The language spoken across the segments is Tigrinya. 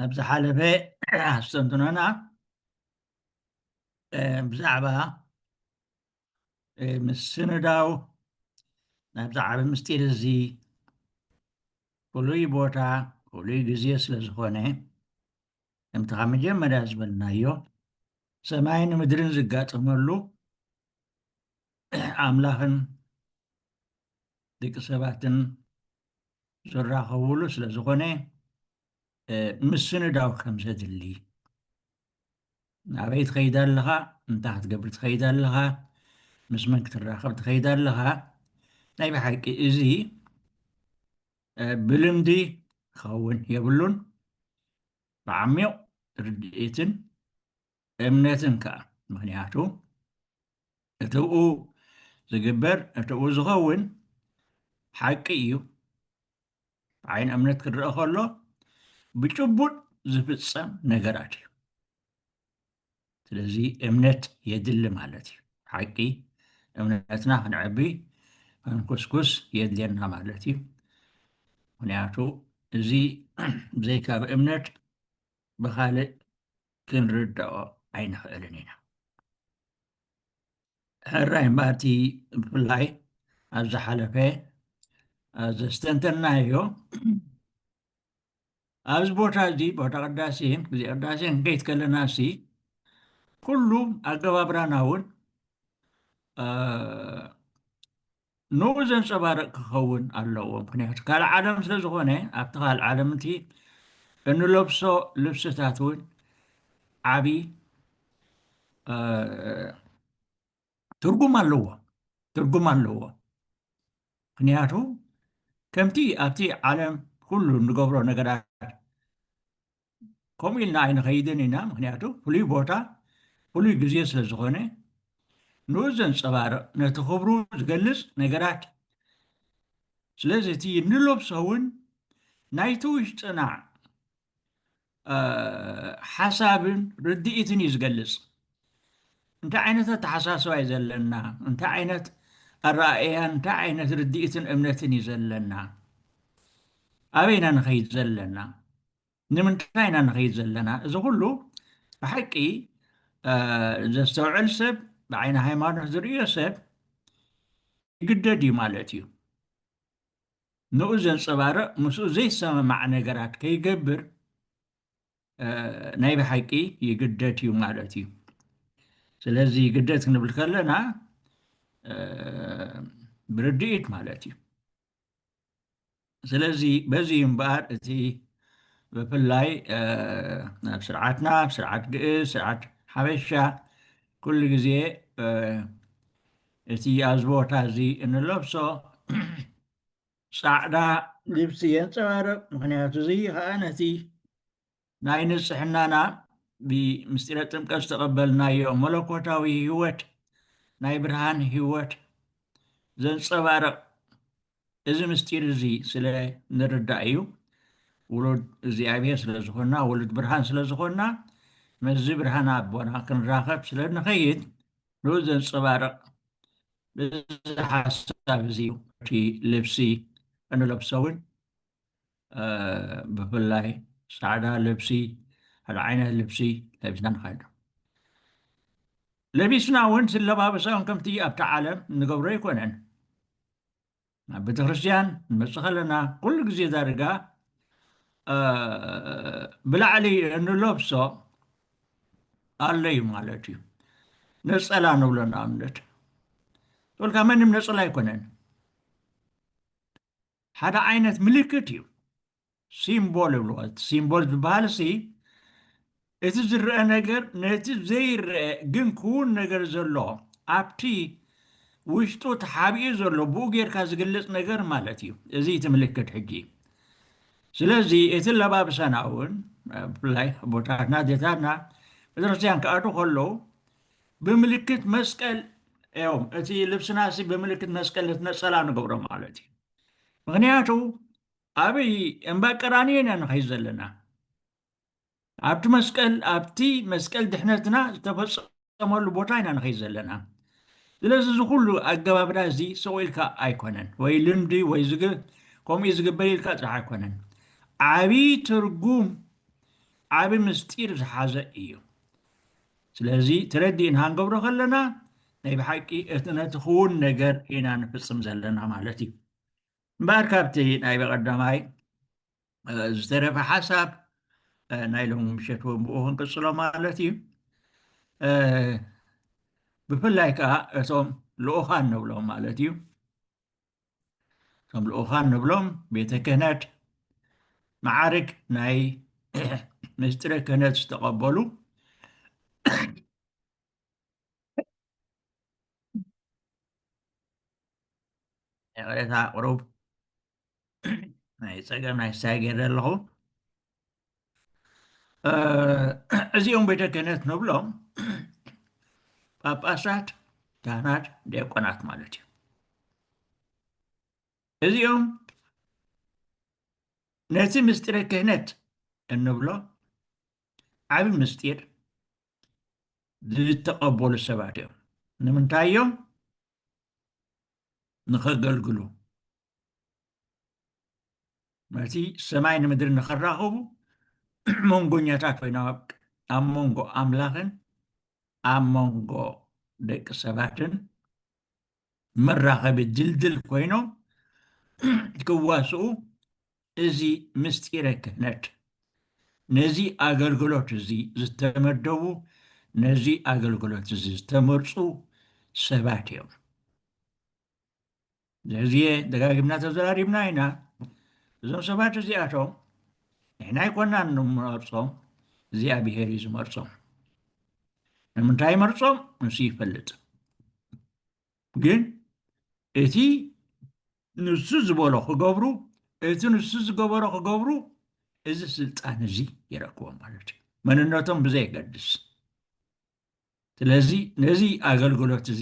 ኣብ ዝሓለፈ ኣስተንትኖና ብዛዕባ ምስንዳው ናብዚ ዓብ ምስጢር እዚ ፍሉይ ቦታ ፍሉይ ግዜ ስለ ዝኾነ ከምቲ ካብ መጀመርያ ዝበልናዮ ሰማይን ምድርን ዝጋጠመሉ ኣምላኽን ድቂ ሰባትን ዝራኸቡሉ ስለ ዝኾነ ምስንዳው ከም ዘድሊ ናበይ ትኸይድ ኣለኻ እንታይ ክትገብር ትኸይድ ኣለኻ ምስ መን ክትራኸብ ትኸይድ ኣለኻ ናይ ብሓቂ እዚ ብልምዲ ክኸውን የብሉን ብዓሚቕ ርድኢትን እምነትን ከኣ ምክንያቱ እቲብኡ ዝግበር እቲብኡ ዝኸውን ሓቂ እዩ ዓይን እምነት ክረአ ከሎ ብጭቡጥ ዝፍጸም ነገራት እዩ ስለዚ እምነት የድሊ ማለት እዩ ሓቂ እምነትና ክንዕቢ ክንኩስኩስ የድልየና ማለት እዩ ምክንያቱ እዚ ዘይካብ እምነት ብካልእ ክንርዳኦ ኣይንኽእልን ኢና ሕራይ እምበኣር እቲ ብፍላይ ኣብ ዝሓለፈ ዘስተንተናዮ ኣብዚ ቦታ እዚ ቦታ ቅዳሴ ግዜ ቅዳሴ ንከይት ከለና ሲ ኩሉ ኣገባብራና እውን ንኡ ዘንጸባርቅ ክከውን ኣለዎ ምክንያቱ ካልእ ዓለም ስለ ዝኮነ ኣብቲ ካልእ ዓለም እቲ እንለብሶ ልብስታት እውን ዓቢ ትርጉም ኣለዎ ትርጉም ኣለዎ ምክንያቱ ከምቲ ኣብቲ ዓለም ኩሉ እንገብሮ ነገራት ከምኡ ኢልና ኣይንኸይድን ኢና ምክንያቱ ፍሉይ ቦታ ፍሉይ ግዜ ስለ ዝኾነ ንኡ ዘንፀባርቕ ነቲ ክብሩ ዝገልፅ ነገራት ስለዚ እቲ እንለብሶ እውን ናይቲ ውሽጥና ሓሳብን ርድኢትን እዩ ዝገልፅ እንታይ ዓይነት ኣተሓሳስባ እዩ ዘለና እንታይ ዓይነት ኣረኣእያን እንታይ ዓይነት ርድኢትን እምነትን እዩ ዘለና ኣበይና ንኸይድ ዘለና ንምንታይ ኢና ንኸይድ ዘለና? እዚ ኹሉ ብሓቂ ዘስተውዕል ሰብ፣ ብዓይኒ ሃይማኖት ዝርእዮ ሰብ ይግደድ እዩ ማለት እዩ። ንኡ ዘንፀባርቕ ምስኡ ዘይሰማማዕ ነገራት ከይገብር ናይ ብሓቂ ይግደድ እዩ ማለት እዩ። ስለዚ ይግደድ ክንብል ከለና ብርድኢት ማለት እዩ። ስለዚ በዚ እዩ እምበኣር እቲ ብፍላይ ኣብ ስርዓትና ኣብ ስርዓት ግእዝ ስርዓት ሓበሻ ኩሉ ግዜ እቲ ኣብዚ ቦታ እዚ እንለብሶ ፃዕዳ ልብሲ የንፀባርቕ ምክንያቱ እዚ ከዓ ነቲ ናይ ንጽሕናና ብምስጢረ ጥምቀት ዝተቐበልናዮ መለኮታዊ ሕይወት ናይ ብርሃን ሕይወት ዘንጸባርቕ እዚ ምስጢር እዚ ስለ ንርዳእ እዩ ውሉድ እግዚኣብሔር ስለ ዝኾንና ውሉድ ብርሃን ስለ ዝኾንና መዚ ብርሃን ኣቦና ክንራኸብ ስለ ንኸይድ ንኡ ዘንጸባርቕ እዚ ሓሳብ እዚ እቲ ልብሲ እንለብሰውን ብፍላይ ፃዕዳ ልብሲ ሓደ ዓይነት ልብሲ ለቢስና ንኸይድ ለቢስና እውን ዝለባበሰኦም ከምቲ ኣብቲ ዓለም ንገብሮ ኣይኮነን ናብ ቤተ ክርስትያን ንመፅእ ከለና ኩሉ ግዜ ዳርጋ ብላዕሊ እንለብሶ ኣሎ እዩ ማለት እዩ ነፀላ ንብሎ ንኣብነት ተብልካ መንም ነፀላ ኣይኮነን ሓደ ዓይነት ምልክት እዩ ሲምቦል ይብልዎ እቲ ሲምቦል ዝበሃል ሲ እቲ ዝረአ ነገር ነቲ ዘይረአ ግን ክውን ነገር ዘሎ ኣብቲ ውሽጡ ተሓቢኡ ዘሎ ብኡ ጌርካ ዝግለፅ ነገር ማለት እዩ እዚ እቲ ምልክት ሕጂ ስለዚ እቲ ለባብሳና እውን ብፍላይ ቦታትና ዜታትና ቤተክርስትያን ክኣዱ ከለዉ ብምልክት መስቀል እዮም እቲ ልብስና ሲ ብምልክት መስቀል እቲ ነፀላ ንገብሮ ማለት እዩ ምክንያቱ ኣብይ እምባ ቀራንዮ ኢና ንኸይ ዘለና ኣብቲ መስቀል ኣብቲ መስቀል ድሕነትና ዝተፈፀመሉ ቦታ ኢና ንኸይ ዘለና ስለዚ እዚ ኩሉ ኣገባብዳ እዚ ሰው ኢልካ ኣይኮነን ወይ ልምዲ ወይ ከምኡ ዝግበር ኢልካ ጥራሕ ኣይኮነን ዓብይ ትርጉም ዓብይ ምስጢር ዝሓዘ እዩ ስለዚ ተረዲእና ክንገብሮ ከለና ናይ ብሓቂ እቲ ነቲ ክውን ነገር ኢና ንፍጽም ዘለና ማለት እዩ እምበኣር ካብቲ ናይ በቐዳማይ ዝተረፈ ሓሳብ ናይ ሎሚ ምሸት እውን ብኡ ክንቅጽሎ ማለት እዩ ብፍላይ ከዓ እቶም ልኡኻን ንብሎም ማለት እዩ ከም ልኡካን ንብሎም ቤተ ክህነት መዓርግ ናይ ምስጢረ ክህነት ዝተቐበሉ ይቕሬታ ቅሩብ ናይ ፀገም ናይ ሳይ ገይረ ኣለኹ እዚኦም ቤተ ክህነት ንብሎም ጳጳሳት፣ ካህናት፣ ዲያቆናት ማለት እዩ። እዚኦም ነቲ ምስጢረ ክህነት እንብሎ ዓብ ምስጢር ዝተቐበሉ ሰባት እዮም። ንምንታይ እዮም ንኸገልግሉ መልሲ፣ ሰማይ ንምድሪ ንኸራኸቡ መንጎኛታት ኮይኖም ኣብ ኣብ መንጎ ኣምላኽን ኣብ መንጎ ደቂ ሰባትን መራኸቢ ድልድል ኮይኖም ክዋስኡ እዚ ምስጢረ ክህነት ነዚ ኣገልግሎት እዚ ዝተመደቡ ነዚ ኣገልግሎት እዚ ዝተመርፁ ሰባት እዮም። ብዙሕ ግዜ ደጋጊምና ተዘራሪብና ኢና እዞም ሰባት እዚኣቶም ንሕና ኣይኮናን ንመርፆም እግዚኣብሄር እዩ ዝመርፆም ንምንታይ መርፆም ንሱ ይፈልጥ ግን እቲ ንሱ ዝበሎ ክገብሩ እቲ ንሱ ዝገበሮ ክገብሩ እዚ ስልጣን እዚ ይረክቦም ማለት እዩ መንነቶም ብዘየገድስ ስለዚ ነዚ ኣገልግሎት እዚ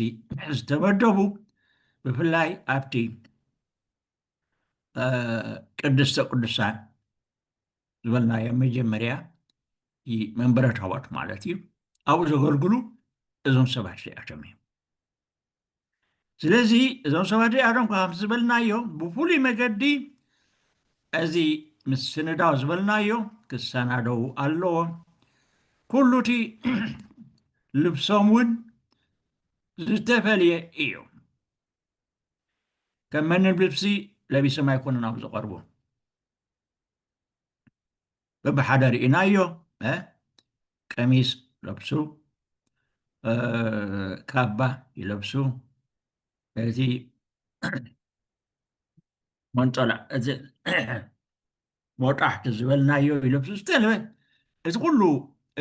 ዝተመደቡ ብፍላይ ኣብቲ ቅድስተ ቅዱሳን ዝበልናዮ መጀመርያ መንበረ ታቦት ማለት እዩ ኣብኡ ዘገልግሉ እዞም ሰባት እዚኣቶም እዮም ስለዚ እዞም ሰባት እዚኣቶም ከምቲ ዝበልናዮ ብፍሉይ መገዲ እዚ ምስ ስንዳው ዝበልናዮ ክሰናደው ኣለዎ ኩሉ እቲ ልብሶም እውን ዝተፈልየ እዩ ከም መንም ልብሲ ለቢሶም ኣይኮኑን ኣብ ዝቐርቡ በብሓደ ርኢናዮ እ ቀሚስ ለብሱ እ ካባ ይለብሱ እዚ መንጦላ እዚ ሞጣሕቲ ዝበልናዮ ይለብሱ ዝተለበ እዚ ኩሉ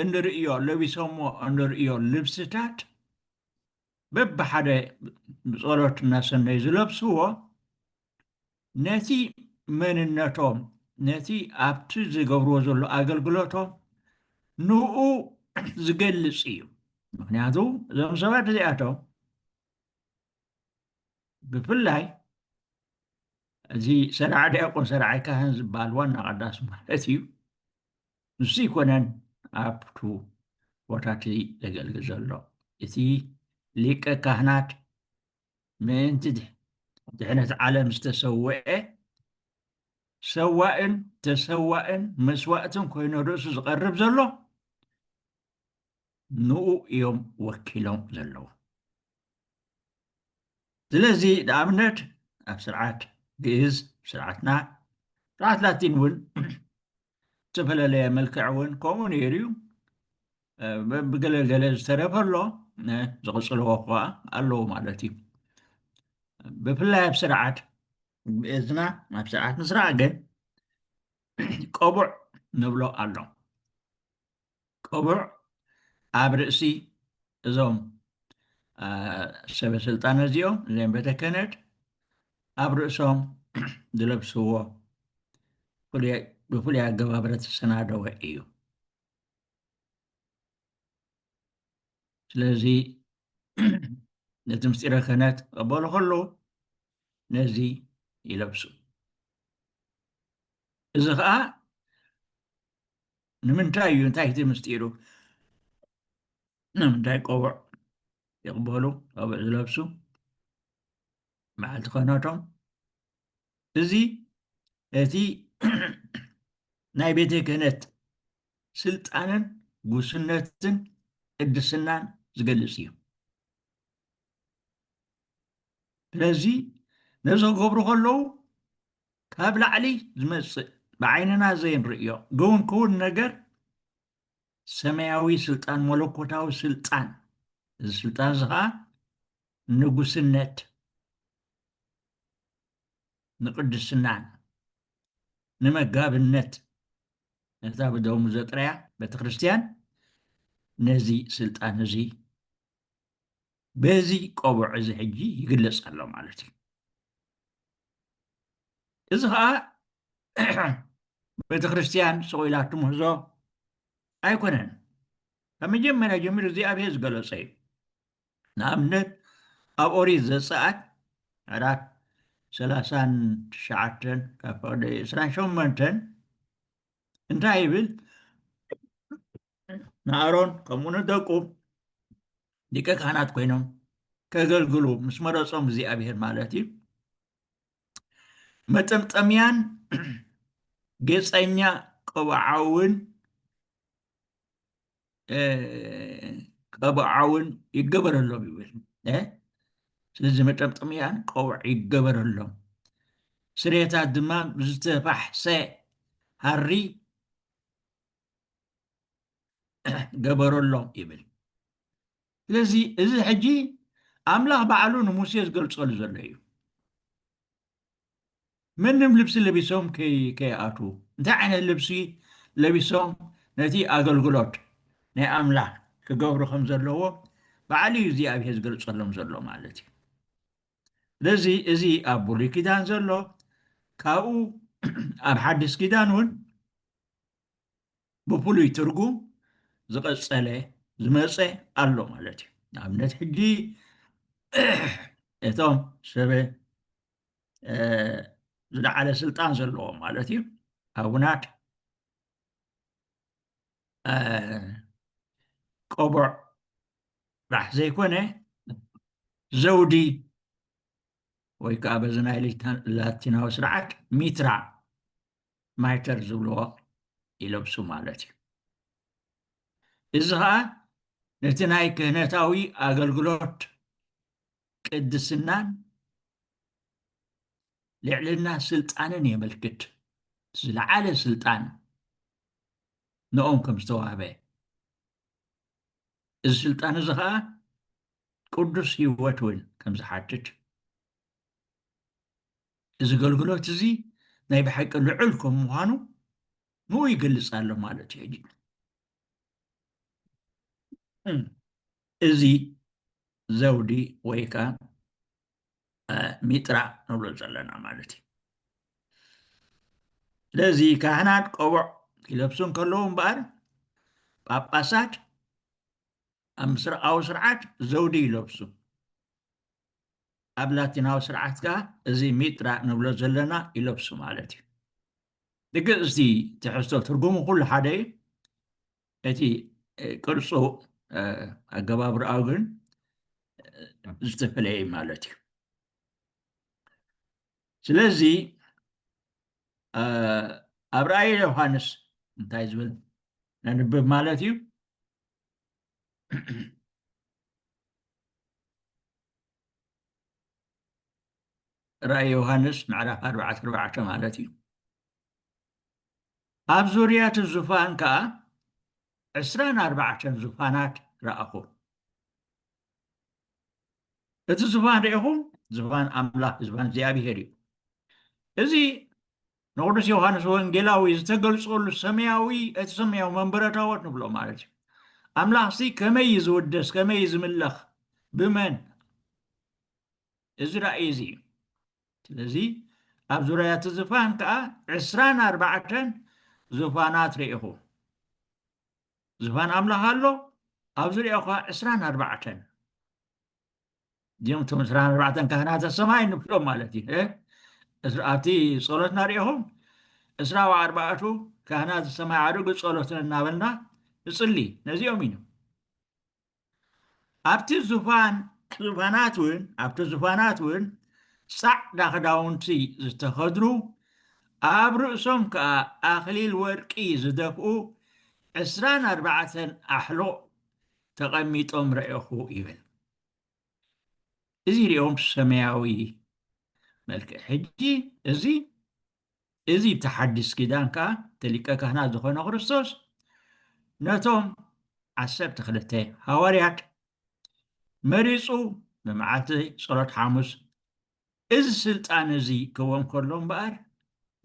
እንርእዮ ለቢሶሞ እንርእዮ ልብስታት በብሓደ ብጸሎት እናሰነዩ ዝለብስዎ ነቲ መንነቶም ነቲ ኣብቲ ዝገብርዎ ዘሎ ኣገልግሎቶም ንኡ ዝገልጽ እዩ ምክንያቱ እዞም ሰባት እዚኣቶም ብፍላይ እዚ ሰራዕ ዲያቆን ሰራዓይ ካህን ዝበሃል ዋና ቀዳስ ማለት እዩ ንሱ ኣይኮነን ኣብቱ ቦታ እቲ ዘገልግል ዘሎ እቲ ሊቀ ካህናት ምእንቲ ድሕነት ዓለም ዝተሰውዐ ሰዋእን ተሰዋእን መስዋእትን ኮይኑ ርእሱ ዝቐርብ ዘሎ ንኡ እዮም ወኪሎም ዘለዉ ስለዚ ንኣብነት ኣብ ስርዓት ግእዝ ስርዓትና ስርዓት ላቲን እውን ዝተፈለለየ መልክዕ እውን ከምኡ ነይሩ እዩ ብገለ ገለ ዝተረፈ ኣሎ ዝቕፅልዎ ከዓ ኣለዎ ማለት እዩ ብፍላይ ኣብ ስርዓት ብእዝና ኣብ ስርዓት ምስራዕ ግን ቀቡዕ ንብሎ ኣሎ ቅቡዕ ኣብ ርእሲ እዞም ሰበስልጣን እዚኦም እዘም ቤተ ከህነት ኣብ ርእሶም ዝለብስዎ ብፍሉይ ኣገባብረ ተሰናደወ እዩ ስለዚ ነቲ ምስጢረ ክህነት ቀበሉ ከለዉ ነዚ ይለብሱ እዚ ከዓ ንምንታይ እዩ እንታይ እቲ ምስጢሩ ንምንታይ ቆቡዕ ይቕበሉ ቆቡዕ ዝለብሱ በዓልቲ ኮነቶም እዚ እቲ ናይ ቤተ ክህነት ስልጣንን ጉስነትን ቅድስናን ዝገልፅ እዩ ስለዚ ነዚ ክገብሩ ከለዉ ካብ ላዕሊ ዝመጽእ ብዓይንና ዘይንርእዮ ግውን ክውን ነገር ሰማያዊ ስልጣን መለኮታዊ ስልጣን እዚ ስልጣን እዚ ከዓ ንጉስነት ንቅድስናን ንመጋብነት ነታ ብደሙ ዘጥረያ ቤተ ክርስቲያን ነዚ ስልጣን እዚ በዚ ቆቡዕ እዚ ሕጂ ይግለጽ ኣሎ ማለት እዩ እዚ ከዓ ቤተ ክርስትያን ሰቂላ ትምህዞ ኣይኮነን ካብ መጀመርያ ጀሚሩ እግዚኣብሔር ዝገለጸ እዩ ንኣብነት ኣብ ኦሪት ዘፀኣት ዕራፍ ሰላሳን ትሽዓተን ካብ ፈቅደ ዕስራን ሸመንተን እንታይ ይብል ንኣሮን ከምኡ ንደቁ ሊቀ ካህናት ኮይኖም ከገልግሉ ምስ መረፆም እግዚኣብሄር ማለት እዩ መጠምጠምያን ጌፀኛ ቀብዓውን ቀብዓውን ይገበረሎም ይብል ስለዚ መጠምጠምያን ቀብዕ ይገበረሎም ስሬታት ድማ ብዝተፋሕሰ ሃሪ ገበረሎም ይብል ስለዚ እዚ ሕጂ ኣምላኽ ባዕሉ ንሙሴ ዝገልጸሉ ዘሎ እዩ ምንም ልብሲ ለቢሶም ከይኣቱ እንታይ ዓይነት ልብሲ ለቢሶም ነቲ ኣገልግሎት ናይ ኣምላኽ ክገብሩ ከም ዘለዎ ባዕሉ እዩ እግዚኣብሄር ዝገልጸሎም ዘሎ ማለት እዩ ስለዚ እዚ ኣብ ብሉይ ኪዳን ዘሎ ካብኡ ኣብ ሓድስ ኪዳን እውን ብፍሉይ ትርጉም ዝቐጸለ ዝመጸ ኣሎ ማለት እዩ ንኣብነት ሕጂ እቶም ሰበ ዝለዓለ ስልጣን ዘለዎም ማለት እዩ ኣቡናት ቆቦዕ ጥራሕ ዘይኮነ ዘውዲ ወይ ከዓ በዚ ናይ ላቲናዊ ስርዓት ሚትራ ማይተር ዝብልዎ ይለብሱ ማለት እዩ እዚ ኸዓ ነቲ ናይ ክህነታዊ ኣገልግሎት ቅድስናን ልዕልና ስልጣንን የመልክት ዝለዓለ ስልጣን ንኦም ከም ዝተዋህበ እዚ ስልጣን እዚ ኸዓ ቅዱስ ህይወት እውን ከም ዝሓትት እዚ ገልግሎት እዚ ናይ ብሓቂ ልዑል ከም ምዃኑ ንኡ ይገልጽ ኣሎ ማለት እዩ ሕጂ እዚ ዘውዲ ወይ ከዓ ሚጥራ ንብሎ ዘለና ማለት እዩ ስለዚ ካህናት ቆቦዕ ይለብሱ እንከለዉ እምበኣር ጳጳሳት ኣብ ምስራቃዊ ስርዓት ዘውዲ ይለብሱ ኣብ ላቲናዊ ስርዓት ከኣ እዚ ሚጥራ ንብሎ ዘለና ይለብሱ ማለት እዩ ብግእዝቲ ትሕዝቶ ትርጉሙ ኩሉ ሓደ እዩ እቲ ቅርፁ ኣገባብርኣው ግን ዝተፈለየ ማለት እዩ ስለዚ ኣብ ራእይ ዮሃንስ እንታይ ዝብል ነንብብ ማለት እዩ ራእይ ዮሃንስ ምዕራፍ ኣርባዕተ ኣርባዕተ ማለት እዩ ኣብ ዙርያ እቲ ዙፋን ከዓ ዕስራን ኣርባዕተን ዙፋናት ረኣኹ እቲ ዙፋን ሪኢኹም ዙፋን ኣምላኽ ዙፋን እግዚኣብሄር እዩ እዚ ንቅዱስ ዮሃንስ ወንጌላዊ ዝተገልጸሉ ሰማያዊ እቲ ሰማያዊ መንበረ ታቦት ንብሎ ማለት እዩ ኣምላኽሲ ከመይ እዩ ዝውደስ ከመይ እዩ ዝምለኽ ብመን እዚ ራእይ እዚ እዩ ስለዚ ኣብ ዙርያ እቲ ዝፋን ከዓ ዕስራን ኣርባዕተን ዝፋናት ርኢኹ ዝፋን ኣምላኽ ኣሎ ኣብ ዙርያኡ ከዓ ዕስራን ኣርባዕተን እዚኦም እቶም ዕስራን ኣርባዕተን ካህናተ ሰማይ ንፍሎም ማለት እዩ እ? እስ- ኣብቲ ጸሎትና ርኢኹም ዕስራ ወኣርባዕቱ ካህናተ ሰማይ ዓድጉ ጸሎትን እናበልና ንጽሊ ነዚኦም እዩ ኣብቲ ዙፋን ዙፋናት እውን ኣብቲ ዙፋናት እውን ጻዕዳ ክዳውንቲ ዝተኸድኑ ኣብ ርእሶም ከዓ ኣኽሊል ወርቂ ዝደፍኡ ዕስራን ኣርባዕተን ኣሕሎ ተቐሚጦም ረኤኹ ይብል። እዚ ሪኦም ሰማያዊ መልክዕ ሕጂ እዚ እዚ እቲ ሓድስ ኪዳን ከዓ እቲ ሊቀ ካህናት ዝኾነ ክርስቶስ ነቶም ዓሰርተ ክልተ ሃዋርያት መሪፁ ብመዓልቲ ጸሎት ሓሙስ እዚ ስልጣን እዚ ክህቦም ከሎ እምበኣር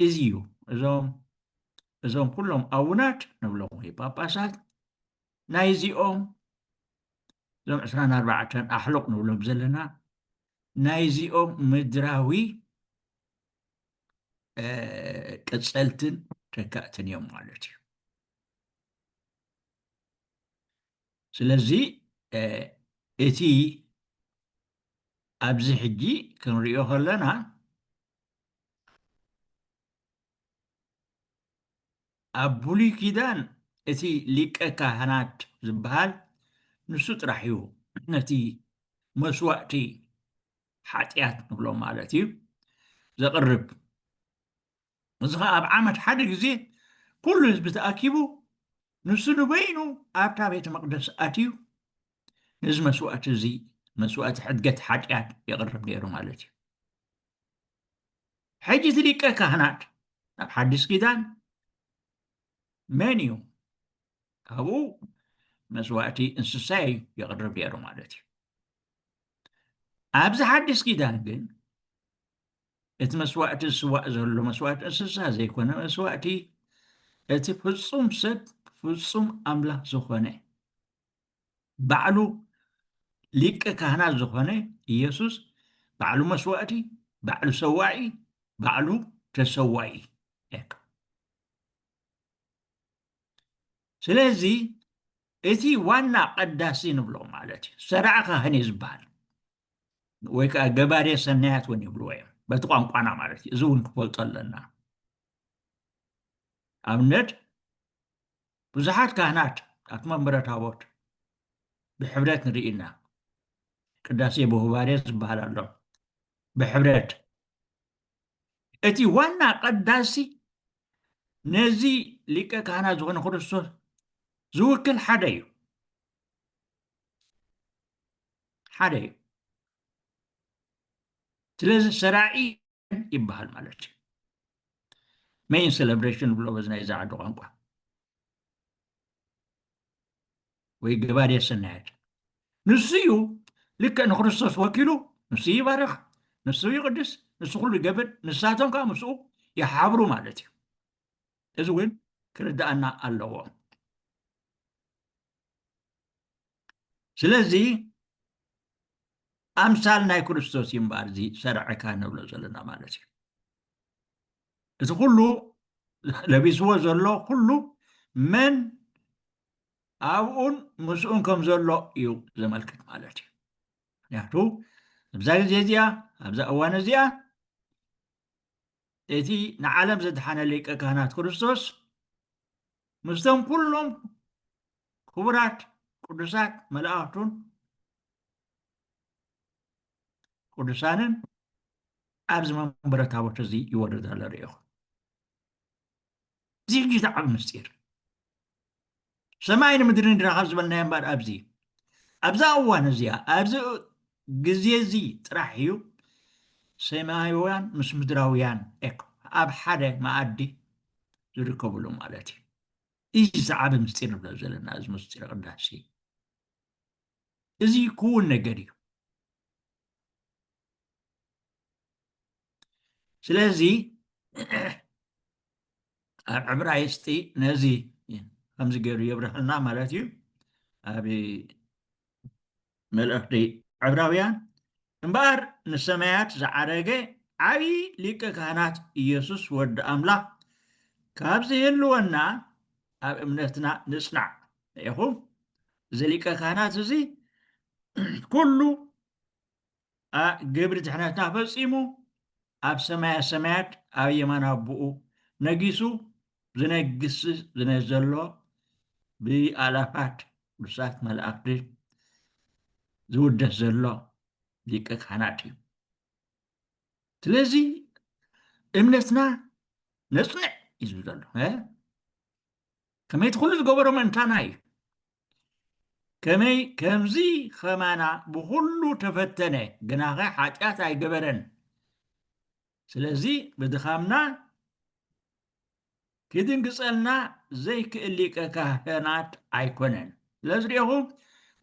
እዚ እዩ እዞም እዞም ኩሎም ኣቡናት ንብሎም ወይ ጳጳሳት ናይዚኦም እዞም ዕስራን ኣርባዕተን ኣሕሉቕ ንብሎም ዘለና ናይዚኦም ምድራዊ ቅፀልትን ተካእትን እዮም ማለት እዩ ስለዚ እቲ ኣብዚ ሕጂ ክንሪኦ ከለና ኣብ ብሉይ ኪዳን እቲ ሊቀ ካህናት ዝበሃል ንሱ ጥራሕ እዩ ነቲ መስዋእቲ ሓጢኣት ንብሎ ማለት እዩ ዘቕርብ እዚ ከዓ ኣብ ዓመት ሓደ ግዜ ኩሉ ህዝቢ ተኣኪቡ ንሱ ንበይኑ ኣብታ ቤተ መቅደስ ኣትዩ ነዚ መስዋእቲ እዚ መስዋእቲ ሕድገት ሓጢኣት የቕርብ ነይሩ ማለት እዩ ሕጂ እቲ ሊቀ ካህናት ኣብ ሓዲስ ኪዳን መን እዩ? ካብኡ መስዋእቲ እንስሳ እዩ የቕርብ ነይሩ ማለት እዩ። ኣብዚ ሓዲስ ኪዳን ግን እቲ መስዋእቲ ዝስዋእ ዘሎ መስዋእቲ እንስሳ ዘይኮነ መስዋእቲ እቲ ፍፁም ሰብ ፍፁም ኣምላኽ ዝኾነ ባዕሉ ሊቀ ካህናት ዝኾነ ኢየሱስ ባዕሉ መስዋእቲ፣ ባዕሉ ሰዋኢ፣ ባዕሉ ተሰዋኢ ስለዚ እቲ ዋና ቀዳሲ ንብሎ ማለት እዩ ሰራዕ ካህን እዩ ዝበሃል ወይ ከዓ ገባሬ ሰናያት እውን ይብልዎ እዮም በቲ ቋንቋና ማለት እዩ እዚ እውን ክፈልጦ ኣለና ኣብነት ብዙሓት ካህናት ኣብቲ መንበረ ታቦት ብሕብረት ንርኢ እና ቅዳሴ በሁባሬ ዝበሃል ኣሎ ብሕብረት እቲ ዋና ቀዳሲ ነዚ ሊቀ ካህናት ዝኾነ ክርስቶስ ዝውክል ሓደ እዩ ሓደ እዩ ስለዚ ሰራዒ ይበሃል ማለት እዩ ሜይን ሴሌብሬሽን ንብሎ በዚ ናይዚ ዓዲ ቋንቋ ወይ ገባድየ ሰናያት ንሱ እዩ ልክዕ ንክርስቶስ ወኪሉ ንሱ ይባርኽ ንሱ ይቕድስ ንሱ ኩሉ ይገብር ንሳቶም ከዓ ምስኡ ይሓብሩ ማለት እዩ እዚ እውን ክርድኣና ኣለዎ ስለዚ ኣምሳል ናይ ክርስቶስ እዩ እምበኣር እዚ ሰርዕካ ንብሎ ዘለና ማለት እዩ እቲ ኩሉ ለቢስዎ ዘሎ ኩሉ መን ኣብኡን ምስኡን ከም ዘሎ እዩ ዘመልክት ማለት እዩ ምክንያቱ ኣብዛ ግዜ እዚኣ ኣብዛ እዋን እዚኣ እቲ ንዓለም ዘድሓነ ሊቀ ካህናት ክርስቶስ ምስቶም ኩሎም ክቡራት ቅዱሳት መላእኽቱን ቅዱሳንን ኣብዚ መንበረ ታቦት እዚ ይወርድ ኣሎ ርኢኹም እዚ ሕጂ እቲ ዓቢ ምስጢር ሰማይ ንምድሪ ንድና ካብ ዝበልናዮ እምበር ኣብዚ እዩ ኣብዛ እዋን እዚኣ ኣብዚ ግዜ እዚ ጥራሕ እዩ ሰማያውያን ምስ ምድራውያን ኤክ ኣብ ሓደ መኣዲ ዝርከብሉ ማለት እዩ እዚ ዝዓበ ምስጢር ንብሎ ዘለና እዚ ምስጢር ቅዳሴ እዚ ክውን ነገር እዩ ስለዚ ኣብ ዕብራይስጢ ነዚ ከምዚ ገይሩ የብርሃልና ማለት እዩ ኣብ መልእኽቲ ዕብራውያን እምበኣር ንሰማያት ዝዓረገ ዓብዪ ሊቀ ካህናት ኢየሱስ ወዲ ኣምላኽ ካብ ዝህልወና ኣብ እምነትና ንጽናዕ ኢኹም እዚ ሊቀ ካህናት እዚ ኩሉ ግብሪ ድሕነትና ፈፂሙ ኣብ ሰማያ ሰማያት ኣብ የማን ኣቦኡ ነጊሱ ዝነግስ ዘሎ ብኣላፋት ቅዱሳት መላእኽቲ ዝውደስ ዘሎ ሊቀ ካህናት እዩ ስለዚ እምነትና ነፅንዕ እዩ ዝብል ዘሎ ከመይቲ ኩሉ ዝገበሮ መንታና እዩ ከመይ ከምዚ ኸማና ብኹሉ ተፈተነ ግናኸ ሓጢኣት ኣይገበረን ስለዚ ብድኻምና ክድንግጸልና ዘይክእል ሊቀ ካህናት ኣይኮነን ስለዚ ሪኹም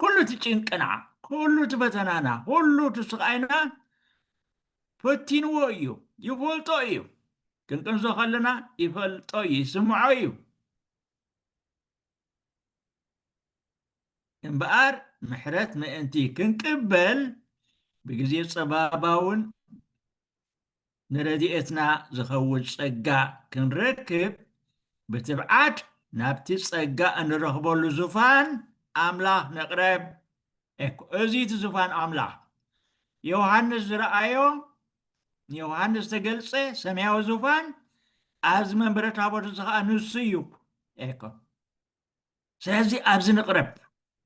ኩሉ እቲ ጭንቅና ኩሉ እቲ ፈተናና ኩሉ እቲ ስቃይና ፈቲንዎ እዩ ይፈልጦ እዩ ክንቅንዞ ከለና ይፈልጦ እዩ ይስምዖ እዩ እምበኣር ምሕረት ምእንቲ ክንቅበል ብግዜ ጸባባውን ንረድኤትና ዝኸውን ጸጋ ክንረክብ ብትብዓት ናብቲ ጸጋ እንረኽበሉ ዙፋን ኣምላኽ ንቕረብ እኮ እዚ እቲ ዙፋን ኣምላኽ ዮሃንስ ዝረኣዮ ንዮሃንስ ዝተገልጸ ሰማያዊ ዙፋን ኣብዚ መንበረ ታቦት እዚ ከዓ ንሱ እዩ ኤኮ ስለዚ ኣብዚ ንቕረብ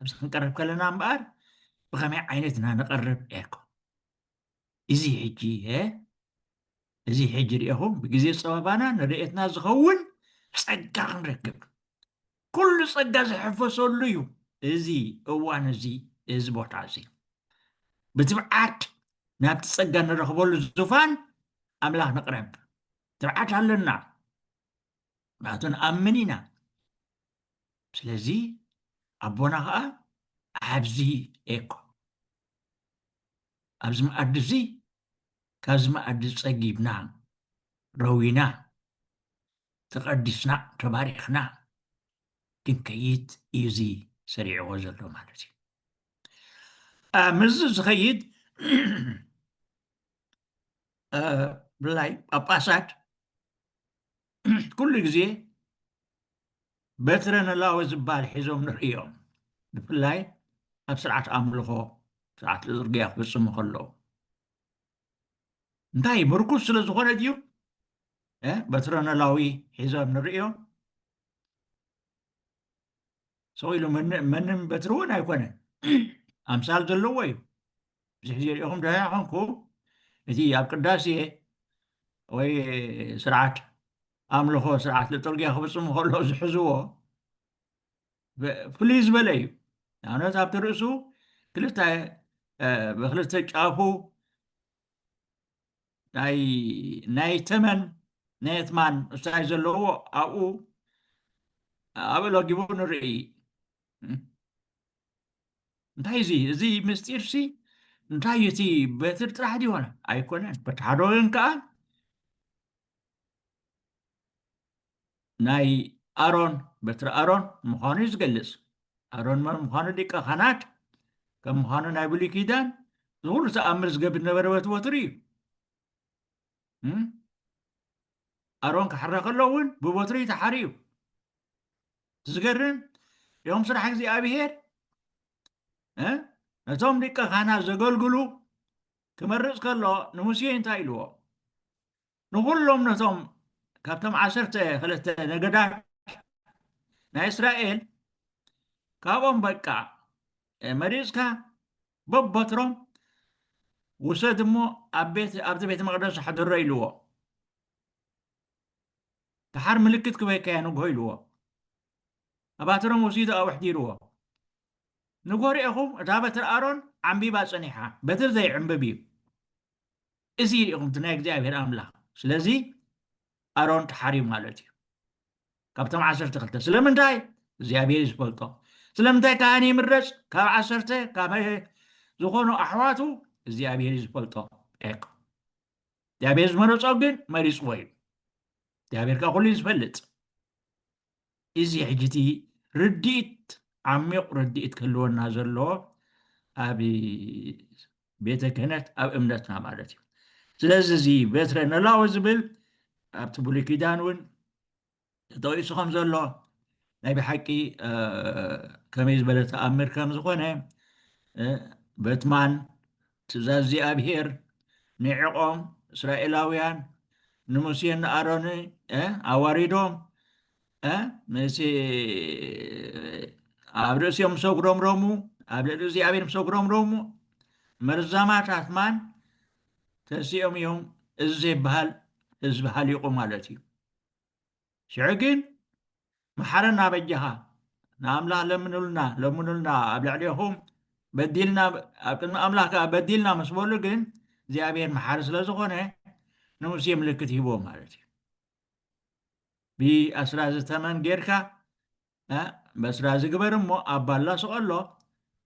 ኣብዚ ክንቀርብ ከለና እምበኣር ብኸመይ ዓይነት ኢና ንቐርብ ኤኮ እዚ ሕጂ እዚ ሕጂ ርኢኹም ብግዜ ፀበባና ንርእየትና ዝኸውን ፀጋ ክንረክብ ኩሉ ፀጋ ዝሕፈሰሉ እዩ እዚ እዋን እዚ እዚ ቦታ እዚ ብትብዓት ናብቲ ፀጋ ንረኽበሉ ዙፋን ኣምላኽ ንቕረብ ትብዓት ኣለና ምክንያቱ ንኣምን ኢና ስለዚ ኣቦና ከዓ ኣብዚ ኤኮ ኣብዚ መኣዲ እዚ ካብዚ መኣዲ ፀጊብና ረዊና ተቐዲስና ተባሪኽና ክንከይድ እዩ እዚ ሰሪዕዎ ዘሎ ማለት እዩ ምስዚ ዝኸይድ ብላይ ጳጳሳት ኩሉ ግዜ በትረ ነላወ ዝበሃል ሒዞም ንርእዮም ብፍላይ ኣብ ስርዓት ኣምልኾ ስርዓት ልጥርግያ ክፍፅሙ ከለዉ እንታይ ምርኩስ ስለ ዝኾነ ድዩ በትረ ነላዊ ሒዞም ንርእዮም ሰው ኢሉ መንም በትሪ እውን ኣይኮነን ኣምሳል ዘለዎ እዩ ብዙሕ ግዜ ሪኢኹም ድሃ ኮንኩ እቲ ኣብ ቅዳሴ ወይ ስርዓት ኣምልኾ ስርዓት ልጥርጊያ ክፍፅሙ ከሎ ዝሕዝዎ ፍልይ ዝበለ እዩ ንኣብነት ኣብቲ ርእሱ ክልተ ብክልተ ጫፉ ናይ ተመን ናይ የትማን እሳይ ዘለዎ ኣብኡ ኣብኡ ለጊቡ ንርኢ እንታይ እዚ እዚ ምስጢርሲ እንታይ እቲ በትር ጥራሕ ድሆነ ኣይኮነን በቲ ሓደ ወገን ከዓ ናይ ኣሮን በትሪ ኣሮን ምዃኑ እዩ ዝገልጽ ኣሮን መን ምዃኑ ሊቀ ካህናት ከም ምዃኑ ናይ ብሉይ ኪዳን ንኩሉ ተኣምር ዝገብር ዝነበረ በቲ በትሪ እዩ እም? ኣሮን ክሓረ ከሎ እውን ብበትሪ እዩ ተሓርዩ እቲ ዝገርም ዮም ስራሕ እግዚኣብሄር እ? ነቶም ሊቀ ካህናት ዘገልግሉ ክመርፅ ከሎ ንሙሴ እንታይ ኢልዎ ንዅሎም ነቶም ካብቶም ዓሰርተ ክልተ ነገዳት ናይ እስራኤል ካብኦም በቃ መሪጽካ በበትሮም ውሰድ እሞ ኣብ ቤት ኣብዚ ቤተ መቅደስ ኣሕድሮ ኢልዎ ድሓር ምልክት ክበይካያ ንግሆ ኢልዎ ኣባትሮም ወሲዱ ኣብ ኣሕዲርዎ ንጎ ርኤኹም እታ በትሪ ኣሮን ዓንቢባ ጸኒሓ በትሪ ዘይዕንብብ እዩ እዚ እዩ ልኢኹም እቲ ናይ እግዚኣብሄር ኣምላኽ ስለዚ ኣሮን ተሓርዩ ማለት እዩ ካብቶም ዓሰርተ ክልተ ስለምንታይ እግዚኣብሄር እዩ ዝፈልጦ ስለምንታይ ካህን ይምረፅ ካብ ዓሰርተ ካብ ዝኾኑ ኣሕዋቱ እግዚኣብሄር እዩ ዝፈልጦ ቅ እግዚኣብሄር ዝመረፆ ግን መሪፅዎ እዩ እግዚኣብሄር ካብ ኩሉ እዩ ዝፈልጥ እዚ ሕጂ እቲ ርድኢት ዓሚቝ ርድኢት ክህልወና ዘለዎ ኣብ ቤተ ክህነት ኣብ እምነትና ማለት እዩ ስለዚ እዚ በትረ ነላዊ ዝብል ኣብቲ ብሉይ ኪዳን እውን ተጠቂሱ ከም ዘሎ ናይ ብሓቂ ከመይ ዝበለ ተኣምር ከም ዝኾነ በትማን ትእዛዝ እግዚኣብሄር ንዒቖም እስራኤላውያን ንሙሴን ንኣሮን ኣዋሪዶም ምስ ኣብ ርእሲኦም ምስ ኣጉረምረሙ ኣብ ልዕሊ እግዚኣብሔር ምስ ኣጉረምረሙ መርዛማት ኣትማን ተሲኦም እዮም እዚ ዘይበሃል ህዝቢ ሃሊቑ ማለት እዩ ሽዑ ግን መሓረና በጃኻ ንኣምላኽ ለምኑልና ለምኑልና ኣብ ልዕሌኹም በዲልና ኣብ ቅድሚ ኣምላኽ ከዓ በዲልና ምስ በሉ ግን እግዚኣብሔር መሓሪ ስለ ዝኾነ ንሙሴ ምልክት ሂቦ ማለት እዩ ብኣስራዚ ተመን ጌርካ በስራዚ ግበር እሞ ኣብ ባላ ስቐሎ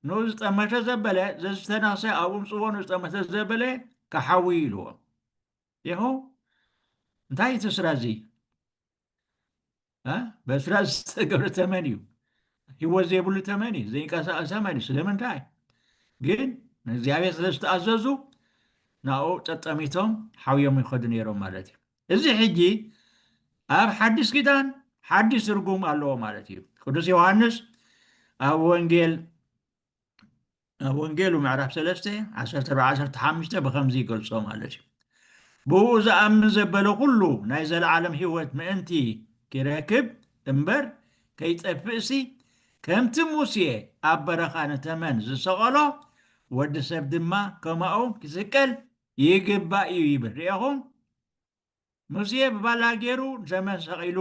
ንኡ ዝጠመተ ዘበለ ዘዝተናሰ ኣብኡ ምፅዎ ንዝጠመተ ዘበለ ክሓዊ ኢልዎ ዴሆ እንታይ እዩ እቲ ስራ እዚ በስራ ዝተገብረ ተመን እዩ ህይወት ዘይብሉ ተመን እዩ ዘይንቀሳቀስ ተመን እዩ ስለምንታይ ግን ንእግዚኣብሔር ስለ ዝተኣዘዙ ናብኡ ጠጠሚቶም ሓውዮም ይኸዱ ነይሮም ማለት እዩ እዚ ሕጂ ኣብ ሓድሽ ኪዳን ሓድሽ ትርጉም ኣለዎ ማለት እዩ ቅዱስ ዮሃንስ ኣብ ወንጌል ኣብ ወንጌሉ ምዕራፍ ሰለስተ ዓሰርተ ኣርባዕተ ዓሰርተ ሓሙሽተ ብኸምዚ ይገልጾ ማለት እዩ ብኡ ዝኣምን ዘበለ ኩሉ ናይ ዘለዓለም ህይወት ምእንቲ ኪረክብ እምበር ከይጠፍእሲ ከምቲ ሙሴ ኣብ በረኻ ንተመን ዝሰቐሎ ወዲ ሰብ ድማ ከማኡ ክስቀል ይግባእ እዩ ይብል ርኤኹም ሙሴ ብባላ ገይሩ ዘመን ሰቒሉ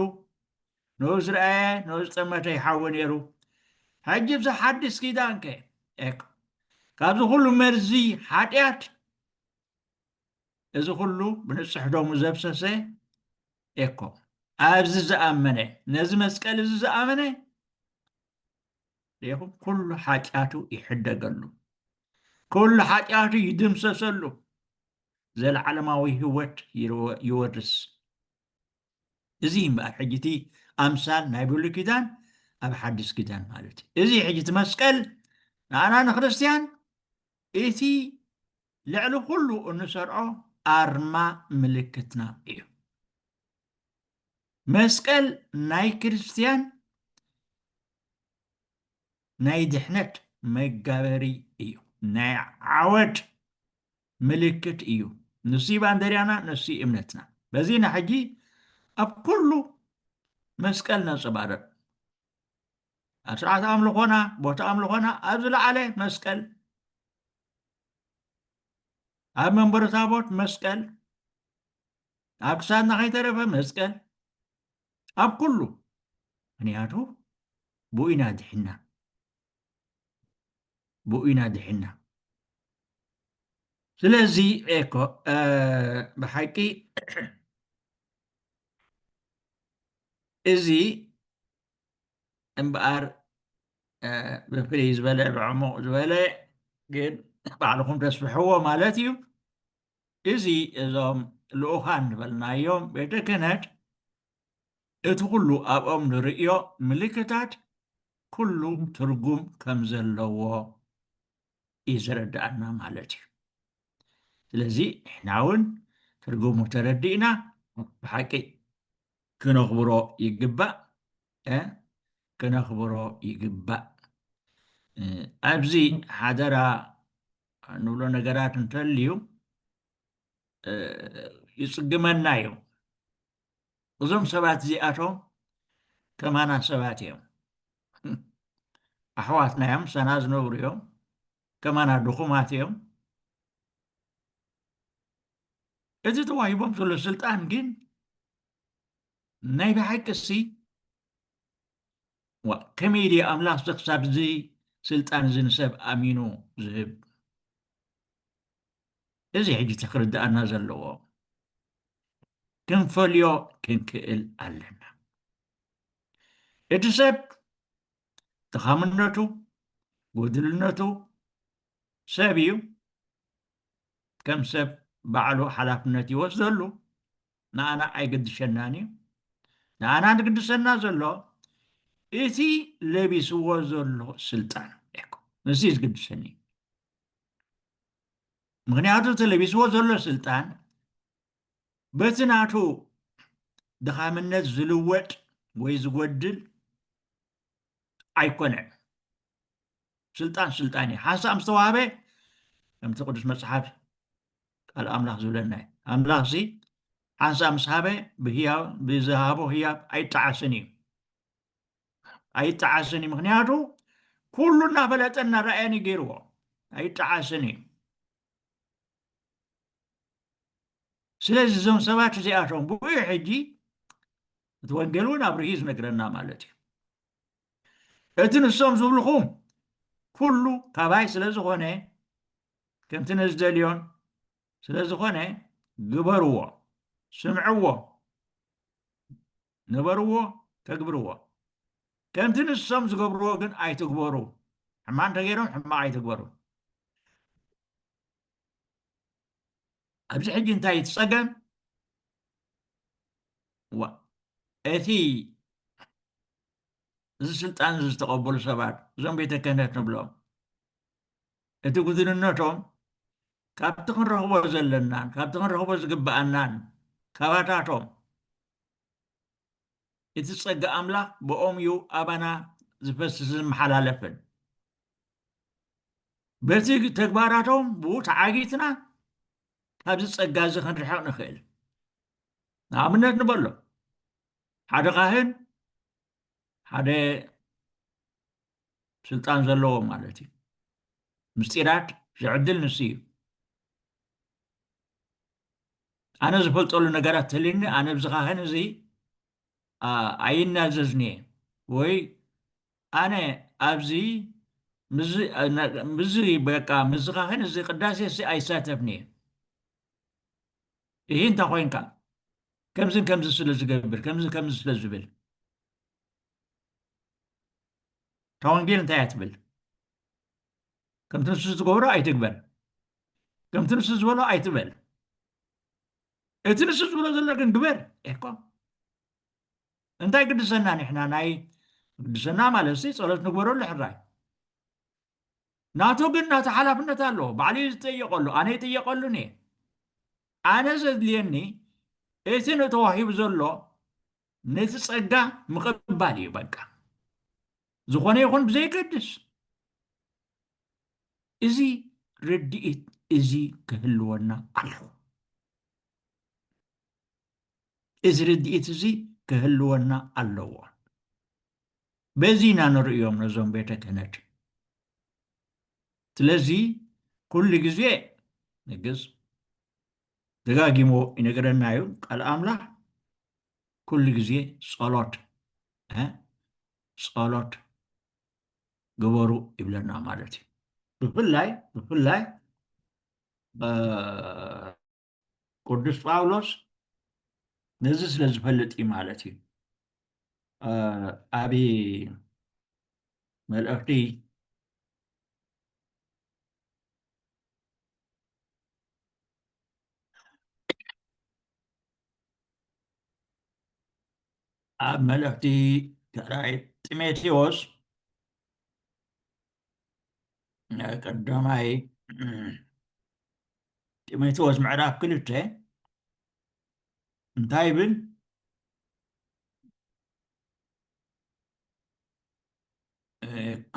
ንኡ ዝረኣየ ንኡ ዝጠመተ ይሓዊ ነይሩ ሕጂ ብዚ ሓድስ ኪዳን ከ ኤክ ካብዚ ኩሉ መርዚ ሓጢኣት እዚ ኩሉ ብንጹሕ ደሙ ዘብሰሰ ኤኮ ኣብዚ ዝኣመነ ነዚ መስቀል እዚ ዝኣመነ ሪኢኹም ኩሉ ሓጢኣቱ ይሕደገሉ ኩሉ ሓጢኣቱ ይድምሰሰሉ ዘለዓለማዊ ህይወት ይወርስ። እዚ እዩ እምበኣር ሕጂ እቲ ኣምሳል ናይ ብሉይ ኪዳን ኣብ ሓድስ ኪዳን ማለት እዩ። እዚ ሕጂ እቲ መስቀል ንኣና ንክርስትያን እቲ ልዕሊ ኩሉ እንሰርዖ ኣርማ ምልክትና እዩ። መስቀል ናይ ክርስትያን ናይ ድሕነት መጋበሪ እዩ ናይ ዓወት ምልክት እዩ ንሱይ ባንደርያና ንሱይ እምነትና በዚ ናሕጂ ኣብ ኩሉ መስቀል ነንጸባርቕ ኣብ ስርዓት ኣምልኾና ቦታ ኣምልኾና ኣብ ዝለዓለ መስቀል ኣብ መንበረ ታቦት መስቀል ኣብ ክሳድና ከይተረፈ መስቀል ኣብ ኩሉ ምክንያቱ ብኡ ኢና ድሒና ብኡ ኢና ድሒና ስለዚ ኤኮ ብሓቂ እዚ እምበኣር ብፍልይ ዝበለ ብዕሙቕ ዝበለ ግን ባዕልኹም ተስፍሕዎ ማለት እዩ እዚ እዞም ልኡኻን ዝበልናዮም ቤተ ክህነት እቲ ኩሉ ኣብኦም ንርእዮ ምልክታት ኩሉ ትርጉም ከም ዘለዎ እዩ ዘረድኣና ማለት እዩ። ስለዚ ንሕና እውን ትርጉሙ ተረዲእና ብሓቂ ክነኽብሮ ይግባእ እ ክነኽብሮ ይግባእ። ኣብዚ ሓደራ ንብሎ ነገራት እንተልዩ ይጽግመና እዩ። እዞም ሰባት እዚኣቶም ከማና ሰባት እዮም ኣሕዋትና እዮም ምሳና ዝነብሩ እዮም ከማና ድኹማት እዮም እዚ ተዋሂቦም ዘሎ ስልጣን ግን ናይ ብሓቂ እሲ ከመይ ድዩ ኣምላኽ ክሳብ እዚ ስልጣን እዚ ንሰብ ኣሚኑ ዝህብ እዚ ሕጂ እቲ ክርድኣና ዘለዎ ክንፈልዮ ክንክእል ኣለና እቲ ሰብ ድኻምነቱ ጎድልነቱ ሰብ እዩ ከም ሰብ ባዕሉ ሓላፍነት ይወስደሉ ንኣና ኣይገድሸናን እዩ ንኣና ንግድሰና ዘሎ እቲ ለቢስዎ ዘሎ ስልጣን እኮ እዚ ዝግድሰኒ ምክንያቱ ተለቢስዎ ዘሎ ስልጣን በቲ ናቱ ድኻምነት ዝልወጥ ወይ ዝጎድል ኣይኮነን ስልጣን ስልጣን እዩ ሓንሳእ ምስ ተዋህበ ከምቲ ቅዱስ መፅሓፍ ቃል ኣምላኽ ዝብለና እዩ ኣምላኽ ሲ ሓንሳእ ምስ ሃበ ብዝሃቦ ህያብ ኣይጠዓስን እዩ ኣይጠዓስን እዩ ምክንያቱ ኩሉ እናፈለጠ እናረኣየን እዩ ገይርዎ ኣይጠዓስን እዩ ስለዚ እዞም ሰባት እዚኣቶም ብኡ ሕጂ እቲ ወንጌል እውን ኣብርሂ ዝነግረና ማለት እዩ እቲ ንሶም ዝብልኹም ኩሉ ካባይ ስለ ዝኾነ ከምቲ ነዝደልዮን ስለ ዝኾነ ግበርዎ ስምዕዎ ንበርዎ ተግብርዎ ከምቲ ንሶም ዝገብርዎ ግን ኣይትግበሩ ሕማቅ እንተገይሮም ሕማቅ ኣይትግበሩ ኣብዚ ሕጂ እንታይ እቲ ፀገም እቲ እዚ ስልጣን እዚ ዝተቐበሉ ሰባት እዞም ቤተ ክህነት ንብሎም እቲ ጉድንነቶም ካብቲ ክንረኽቦ ዘለናን ካብቲ ክንረኽቦ ዝግብኣናን ካባታቶም እቲ ጸጋ ኣምላኽ ብኦም እዩ ኣባና ዝፈስስን ዝመሓላለፍን በቲ ተግባራቶም ብኡ ተዓጊትና ካብዚ ጸጋ እዚ ክንርሕቕ ንኽእል ንኣብነት ንበሎ ሓደ ካህን ሓደ ስልጣን ዘለዎ ማለት እዩ ምስጢራት ዝዕድል ንሱ እዩ ኣነ ዝፈልጠሉ ነገራት ተልዩኒ ኣነ ብዚ ካህን እዚ ኣይናዘዝን እየ ወይ ኣነ ኣብዚ ምዚ በቃ ምዚ ካህን እዚ ቅዳሴ እዚ ኣይሳተፍን እየ ይህ እንታ ኮይንካ ከምዝን ከምዚ ስለ ዝገብር ከምዚ ከምዚ ስለ ዝብል እታ ወንጌል እንታይ እያ ትብል ከምቲ ንሱ ዝገብሮ ኣይትግበር ከምቲ ንሱ ዝበሎ ኣይትበል እቲ ንሱ ዝብሎ ዘሎ ግን ግበር ኢሕኮም እንታይ ግድሰና ንሕና ናይ ግድሰና ማለት ሲ ፀሎት ንግበረሉ ሕራይ ናቱ ግን ናቱ ሓላፍነት ኣለዎ ባዕሉ እዩ ዝጠየቀሉ ኣነ ይጥየቀሉን እየ ኣነ ዘድልየኒ እቲ ንተዋሂቡ ዘሎ ነቲ ፀጋ ምቕባል እዩ በቃ ዝኾነ ይኹን ብዘይገድስ እዚ ርድኢት እዚ ክህልወና ኣለዎ እዚ ርድኢት እዚ ክህልወና ኣለዎ በዚ ኢና ንርእዮም ነዞም ቤተ ክህነት ስለዚ ኩሉ ግዜ ንግስ ደጋጊሞ ይነገረና እዩ ቃል ኣምላኽ ኩሉ ግዜ ጸሎት ጸሎት ግበሩ ይብለና ማለት እዩ ብፍላይ ብፍላይ ቅዱስ ጳውሎስ ነዚ ስለ ዝፈልጥ እዩ ማለት እዩ ኣብ መልእኽቲ ኣብ መልእኽቲ ካልኣይ ጢሞቴዎስ ቀዳማይ ጢሞቴዎስ ምዕራፍ ክልተ እንታይ ይብል እኮ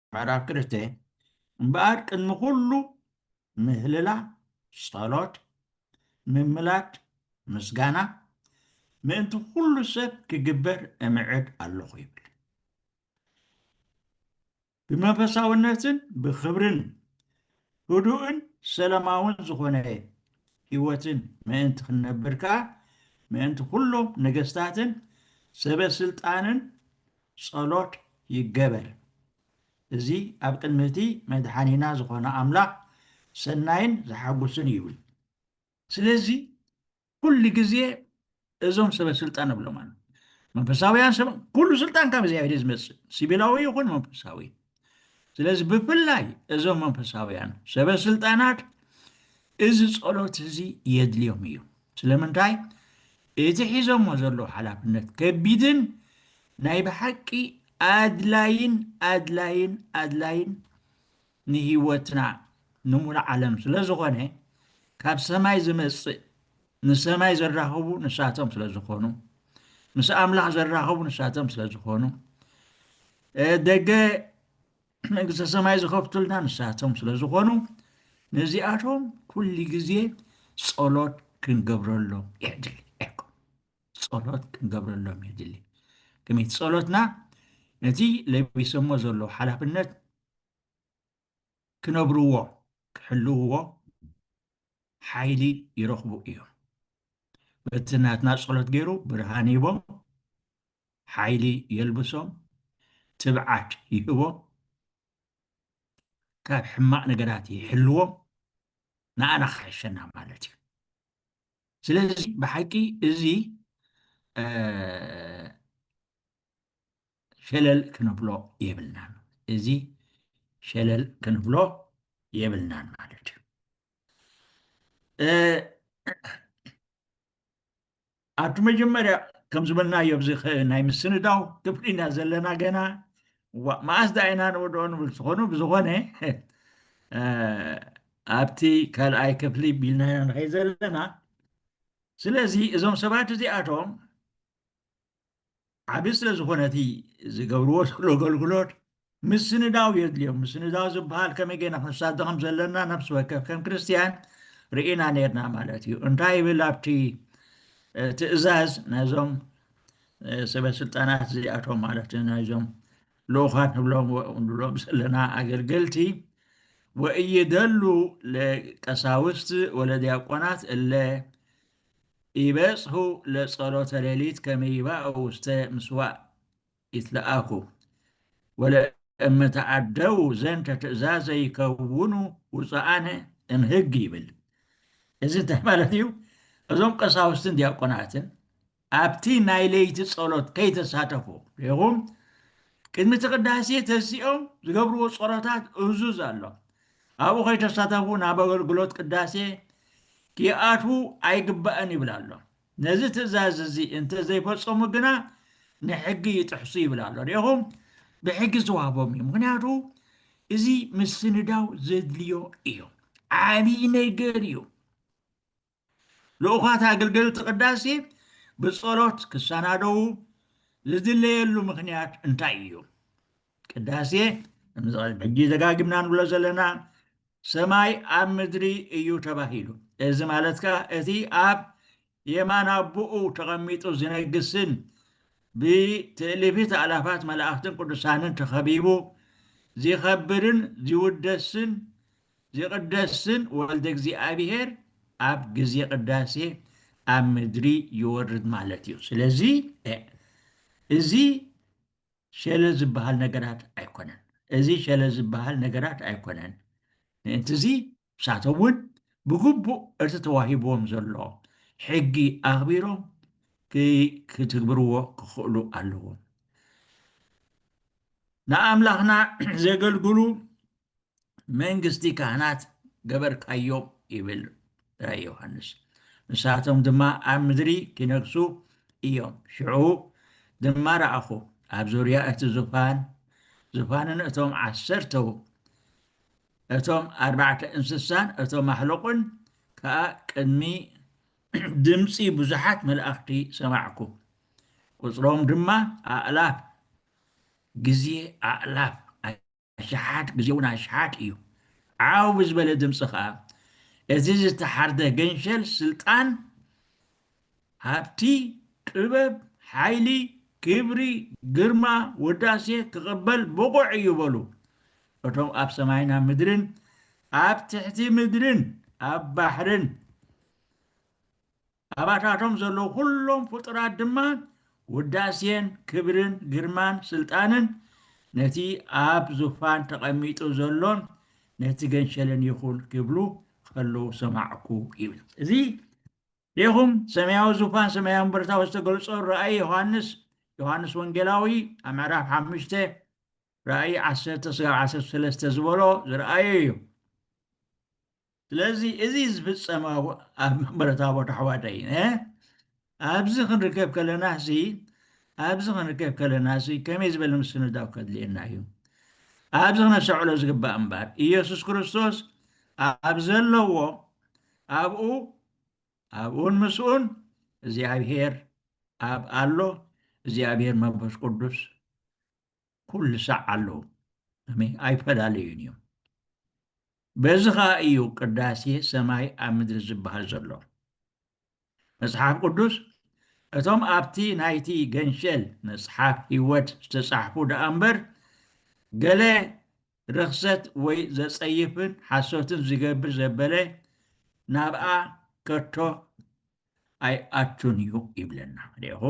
ምዕራፍ ክልተ እምበኣር ቅድሚ ኩሉ ምህልላ፣ ጸሎት፣ ምምላድ፣ ምስጋና፣ ምእንቲ ኩሉ ሰብ ክግበር እምዕድ ኣሎኹ ይብል። ብመንፈሳውነትን ብኽብርን ህዱእን ሰላማውን ዝኾነ ህይወትን ምእንቲ ክንነብር ከኣ ምእንቲ ኩሎም ነገስታትን ሰበ ስልጣንን ጸሎት ይገበር። እዚ ኣብ ቅድሚ እቲ መድሓኒና ዝኾነ ኣምላኽ ሰናይን ዘሓጉስን እዩ። ስለዚ ኩሉ ግዜ እዞም ሰበ ስልጣን እብሎም ኣሎ መንፈሳውያን ሰብ ኩሉ ስልጣን ካብ እግዚኣብሔር ዝመፅእ ሲቪላዊ ይኹን መንፈሳዊ ስለዚ ብፍላይ እዞም መንፈሳውያን ሰበ ስልጣናት እዚ ጸሎት እዚ የድልዮም እዩ ስለምንታይ እቲ ሒዞሞ ዘለዉ ሓላፍነት ከቢድን ናይ ብሓቂ ኣድላይን ኣድላይን ኣድላይን ንህይወትና ንሙሉእ ዓለም ስለዝኾነ ካብ ሰማይ ዝመጽእ ንሰማይ ዘራኽቡ ንሳቶም ስለዝኾኑ ምስ ኣምላኽ ዘራኽቡ ንሳቶም ስለዝኾኑ ደገ መንግስተ ሰማይ ዝኸፍቱልና ንሳቶም ስለዝኾኑ ነዚኣቶም ኩሉ ግዜ ጸሎት ክንገብረሎም የድሊ ጸሎት ክንገብረሎም የድሊ ከመይቲ ጸሎትና ነቲ ለቢሰሞ ዘሎ ሓላፍነት ክነብርዎ ክሕልውዎ ሓይሊ ይረኽቡ እዮም በቲ ናትና ጸሎት ገይሩ ብርሃን ሂቦም ሓይሊ የልብሶም ትብዓት ይህቦም ካብ ሕማቕ ነገራት ይሕልዎም ንኣና ክሓሸና ማለት እዩ ስለዚ ብሓቂ እዚ ሸለል ክንብሎ የብልናን እዚ ሸለል ክንብሎ የብልናን ማለት እዩ ኣብቲ መጀመርያ ከም ዝበልናዮ ኣብዚ ናይ ምስንዳው ክፍሊ ኢና ዘለና ገና ዋእ መኣስ ዳ ኢና ንወድኦ ንብል ትኾኑ ብዝኾነ ኣብቲ ካልኣይ ክፍሊ ቢልና ኢና ንኸይ ዘለና ስለዚ እዞም ሰባት እዚኣቶም ዓቢ ስለ ዝኾነ እቲ ዝገብርዎ ዘሎ ኣገልግሎት ምስንዳው የድልዮም ምስንዳው ዝበሃል ከመይ ገይና ክንሳተ ከም ዘለና ነፍሲ ወከፍ ከም ክርስትያን ርኢና ነርና ማለት እዩ እንታይ ይብል ኣብቲ ትእዛዝ ናይዞም ሰበ ስልጣናት እዚኣቶም ማለት ናይዞም ልኡኻት ንብሎም ንብሎም ዘለና ኣገልገልቲ ወእይደሉ ለቀሳውስት ወለዲያቆናት እለ ይበጽሑ ለጸሎተ ሌሊት ከመ ይባኡ ውስተ ምስዋዕ ይትለኣኩ ወለእመ ተዓደዉ ዘንተ ትእዛዘ ይከውኑ ውጹኣነ እምሕግ ይብል። እዚ እንታይ ማለት እዩ? እዞም ቀሳውስትን ዲያቆናትን ኣብቲ ናይ ለይቲ ጸሎት ከይተሳተፉ ሪኹም ቅድሚ እቲ ቅዳሴ ተሲኦም ዝገብርዎ ጸሎታት እዙዝ ኣሎ። ኣብኡ ከይተሳተፉ ናብ ኣገልግሎት ቅዳሴ ኪኣትዉ ኣይግባእን ይብል ኣሎ። ነዚ ትእዛዝ እዚ እንተ ዘይፈጸሙ ግና ንሕጊ ይጥሕሱ ይብል ኣሎ። ርኢኹም፣ ብሕጊ ዝተዋህቦም እዩ። ምክንያቱ እዚ ምስንዳው ዘድልዮ እዩ። ዓብዪ ነገር እዩ። ልኡኻት ኣገልገልቲ ቅዳሴ ብጸሎት ክሰናደዉ ዝድለየሉ ምኽንያት እንታይ እዩ? ቅዳሴ ሕጂ ደጋጊምና ንብሎ ዘለና ሰማይ ኣብ ምድሪ እዩ ተባሂሉ። እዚ ማለት ከኣ እቲ ኣብ የማን ኣቦኡ ተቐሚጡ ዝነግስን ብትእልፊት ኣእላፋት መላእኽትን ቅዱሳንን ተኸቢቡ ዚኸብርን ዚውደስን ዚቕደስ ስም ወልደ እግዚኣብሔር ኣብ ግዜ ቅዳሴ ኣብ ምድሪ ይወርድ ማለት እዩ። ስለዚ እዚ ሸለ ዝበሃል ነገራት ኣይኮነን። እዚ ሸለ ዝበሃል ነገራት ኣይኮነን። ምእንትዚ ንሳቶም እውን ብግቡእ እቲ ተዋሂብዎም ዘሎ ሕጊ ኣኽቢሮም ክትግብርዎ ክኽእሉ ኣለዎም። ንኣምላኽና ዘገልግሉ መንግስቲ ካህናት ገበርካዮም ይብል ራእይ ዮሃንስ ንሳቶም ድማ ኣብ ምድሪ ኪነግሱ እዮም ሽዑ ድማ ረኣኹ ኣብ ዙርያ እቲ ዙፋን ዙፋንን እቶም ዓሰርተው እቶም ኣርባዕተ እንስሳን እቶም ማሕለቑን ከዓ ቅድሚ ድምፂ ብዙሓት መላእኽቲ ሰማዕኩ ቁፅሮም ድማ ኣእላፍ ግዜ ኣእላፍ ኣሽሓት ግዜ'ውን ኣሽሓት እዩ። ዓው ብዝበለ ድምጺ ከኣ እዚ ዝተሓርደ ገንሸል ስልጣን፣ ሃብቲ፣ ጥበብ፣ ሓይሊ፣ ክብሪ፣ ግርማ፣ ውዳሴ ክቕበል ብቑዕ እዩ በሉ። እቶም ኣብ ሰማይን ኣብ ምድርን ኣብ ትሕቲ ምድርን ኣብ ባሕርን ኣባታቶም ዘለዉ ኩሎም ፍጡራት ድማ ውዳሴን ክብርን ግርማን ስልጣንን ነቲ ኣብ ዙፋን ተቐሚጡ ዘሎን ነቲ ገንሸልን ይኹን ክብሉ ከለዉ ሰማዕኩ ይብል። እዚ ዴኹም ሰማያዊ ዙፋን ሰማያዊ ምብርታዊ ዝተገልጾ ራእይ ዮሃንስ ዮሃንስ ወንጌላዊ ኣብ ምዕራፍ ሓሙሽተ ራእይ ዓሰርተ ስጋብ ዓሰርተ ሰለስተ ዝበሎ ዝረኣዮ እዩ። ስለዚ እዚ ዝፍፀም ኣብ መንበረ ታቦት ኣሕዋተይ ኣብዚ ክንርከብ ከለና ሲ ኣብዚ ክንርከብ ከለና ሲ ከመይ ዝበለ ምስንዳው ከድልየና እዩ ኣብዚ ክነሰዕሎ ዝግባእ እምበር ኢየሱስ ክርስቶስ ኣብ ዘለዎ ኣብኡ ኣብኡን ምስኡን እግዚኣብሔር ኣብ ኣሎ እግዚኣብሔር መንፈስ ቅዱስ ኩሉ ሳዕ ኣለዉ ኣሜን ኣይፈላለዩን እዮም በዚ ኸኣ እዩ ቅዳሴ ሰማይ ኣብ ምድሪ ዝበሃል ዘሎ መጽሓፍ ቅዱስ እቶም ኣብቲ ናይቲ ገንሸል መጽሓፍ ህይወት ዝተጻሕፉ ደኣ እምበር ገለ ርኽሰት ወይ ዘጸይፍን ሓሶትን ዝገብር ዘበለ ናብኣ ከቶ ኣይኣቱን እዩ ይብለና ሪኹ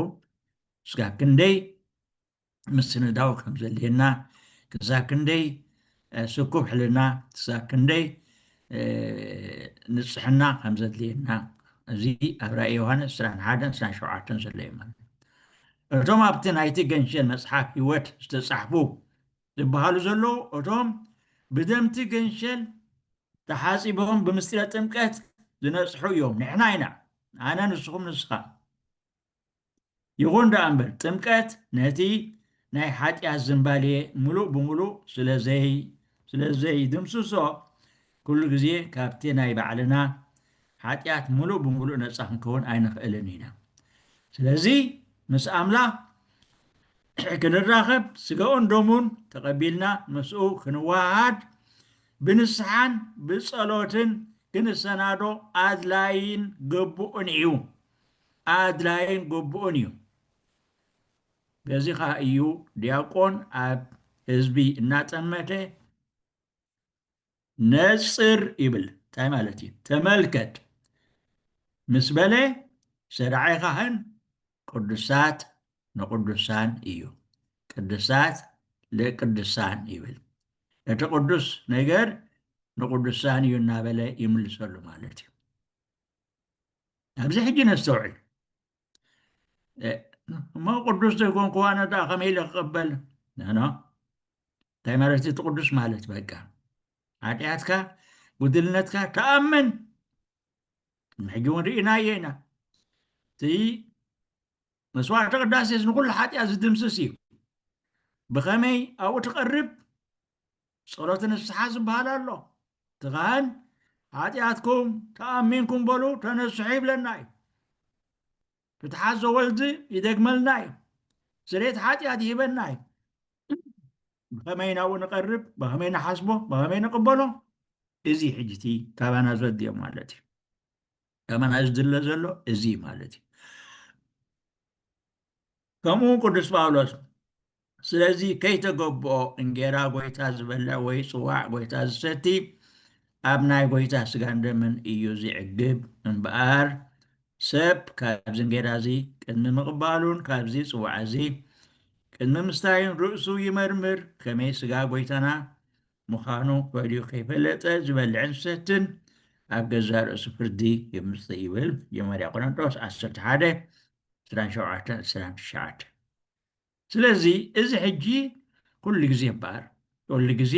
እስካ ክንደይ ምስንዳው ከም ዘድልየና ክሳብ ክንደይ ስኩብ ሕልና ክሳብ ክንደይ ንፅሕና ከም ዘድልየና እዚ ኣብ ራእይ ዮሃንስ ዕስራን ሓደን ዕስራን ሸውዓተን ዘሎ እዩ ማለት እዩ እቶም ኣብቲ ናይቲ ገንሸል መፅሓፍ ህይወት ዝተፃሕፉ ዝበሃሉ ዘለዉ እቶም ብደምቲ ገንሸል ተሓፂቦም ብምስጢረ ጥምቀት ዝነፅሑ እዮም ንሕና ኢና ኣነ ንስኹም ንስኻ ይኹን ደኣ እምበር ጥምቀት ነቲ ናይ ሓጢኣት ዝምባሌ ምሉእ ብምሉእ ስለ ዘይድምስሶ፣ ኩሉ ግዜ ካብቲ ናይ ባዕልና ሓጢኣት ምሉእ ብምሉእ ነጻ ክንከውን ኣይንኽእልን ኢና። ስለዚ ምስ ኣምላኽ ክንራኸብ፣ ስጋኡን ደሙን ተቐቢልና ምስኡ ክንወሃሃድ፣ ብንስሓን ብጸሎትን ክንሰናዶ ኣድላዪን ግቡእን እዩ። ኣድላይን ግቡእን እዩ። በዚ ኸኣ እዩ ዲያቆን ኣብ ህዝቢ እናጠመተ ነጽር ይብል እንታይ ማለት እዩ ተመልከት ምስ በለ ሰዳዓይ ካህን ቅዱሳት ንቅዱሳን እዩ ቅድሳት ለቅድሳን ይብል እቲ ቅዱስ ነገር ንቅዱሳን እዩ እናበለ ይምልሰሉ ማለት እዩ ኣብዚ ሕጂ ነስተውዕል እሞ ቅዱስ ዘይኮንኩ ዋነ ደኣ ከመይ ኢለ ክቕበል ኖ እንታይ ማለት እቲ ቅዱስ ማለት በቃ ሓጢኣትካ ጉድልነትካ ተኣምን ሕጂ እውን ርኢናዮ ኢና እቲ መስዋዕቲ ቅዳሴስ ንኩሉ ሓጢኣት ዝድምስስ እዩ ብኸመይ ኣብኡ ትቐርብ ጸሎት ንስሓ ዝበሃል ኣሎ እቲ ካህን ሓጢኣትኩም ተኣሚንኩም በሉ ተነስሑ ይብለና እዩ ፍትሓት ዘወልድ ይደግመልና እዩ ስሬት ሓጢኣት ይህበና እዩ ብኸመይ ናብኡ ንቐርብ ብኸመይ ንሓስቦ ብኸመይ ንቕበሎ እዚ ሕጂ እቲ ካባና ዘድልዮ ማለት እዩ ከማና ዝድለ ዘሎ እዚ ማለት እዩ ከምኡ ቅዱስ ጳውሎስ ስለዚ ከይተገብኦ እንጌራ ጎይታ ዝበልዕ ወይ ጽዋዕ ጎይታ ዝሰቲ ኣብ ናይ ጎይታ ስጋን ደምን እዩ ዝዕግብ እምበኣር ሰብ ካብዚ እንጌራ እዚ ቅድሚ ምቕባሉን ካብዚ ጽዋዕ እዚ ቅድሚ ምስታይን ርእሱ ይመርምር ከመይ ስጋ ጎይታና ምዃኑ ፈሊዩ ከይፈለጠ ዝበልዕን ዝሰትን ኣብ ገዛ ርእሱ ፍርዲ የምጽእ ይብል መጀመርያ ቆሮንጦስ ዓሰርተ ሓደ ዕስራን ሸውዓተን ዕስራን ትሽዓተን ስለዚ እዚ ሕጂ ኩሉ ግዜ እምበኣር ኩሉ ግዜ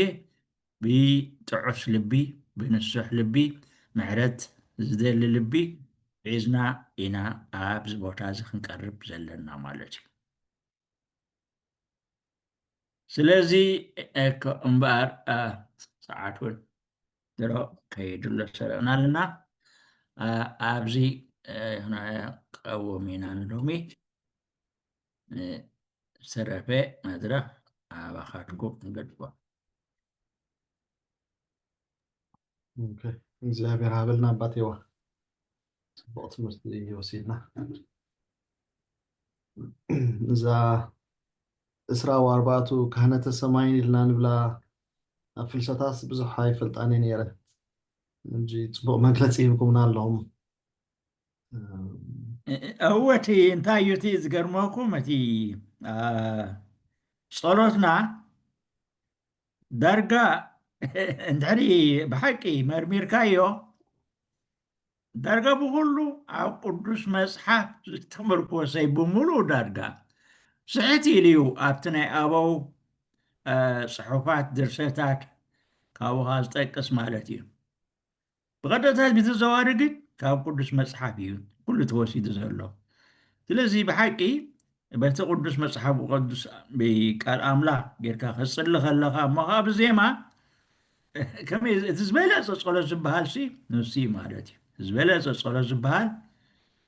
ብጥዑስ ልቢ ብንሱሕ ልቢ ምሕረት ዝደሊ ልቢ ሒዝና ኢና ኣብዚ ቦታ እዚ ክንቀርብ ዘለና ማለት እዩ ስለዚ እኮ እምበኣር ሰዓት እውን ድሮ ከይድሎ ሰሪቕና ኣለና ኣብዚ ቀውም ኢና ንሎሚ ዝተረፈ መድረኽ ኣባኻትኩም ንገድፎ እግዚኣብሔር ሃበልና ኣባቴዋ ፅቡቅ ትምህርቲ ወሲድና እዛ እስራ ወኣርባዕቱ ካህነተ ሰማይን ኢልና ንብላ ኣብ ፍልሰታስ ብዙሕ ኣይፈልጣን እየ ነይረ እንጂ ፅቡቅ መግለፂ ሂብኩምና ኣለኹም እወ እቲ እንታይ እዩ እቲ ዝገርመኩም እቲ አ፣ ጸሎትና ዳርጋ እንድሕሪ ብሓቂ መርሚርካዮ ዳርጋ ብኩሉ ኣብ ቅዱስ መጽሓፍ ዝተመርኮሰይ ብምሉእ ዳርጋ ስሕት ኢሉ እዩ ኣብቲ ናይ ኣበው ጽሑፋት ድርሰታት ካብኻ ዝጠቅስ ማለት እዩ ብቐጥታ ብተዘዋዋሪ ግን ካብ ቅዱስ መጽሓፍ እዩ ኩሉ ተወሲዱ ዘሎ። ስለዚ ብሓቂ በቲ ቅዱስ መጽሓፍ ቅዱስ ቃል ኣምላኽ ጌርካ ክትጽሊ ከለኻ እሞ ከዓ ብዜማ ከመይ እቲ ዝበለጸ ጸሎት ዝበሃል ሲ ንሱ እዩ ማለት እዩ። ዝበለጸ ጸሎት ዝበሃል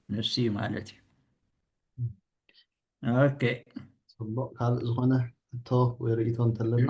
ንሱ እዩ ማለት እዩ። ኦኬ ጽቡቅ ካልእ ዝኾነ ሕቶ ወይ ርእይቶ እንተለና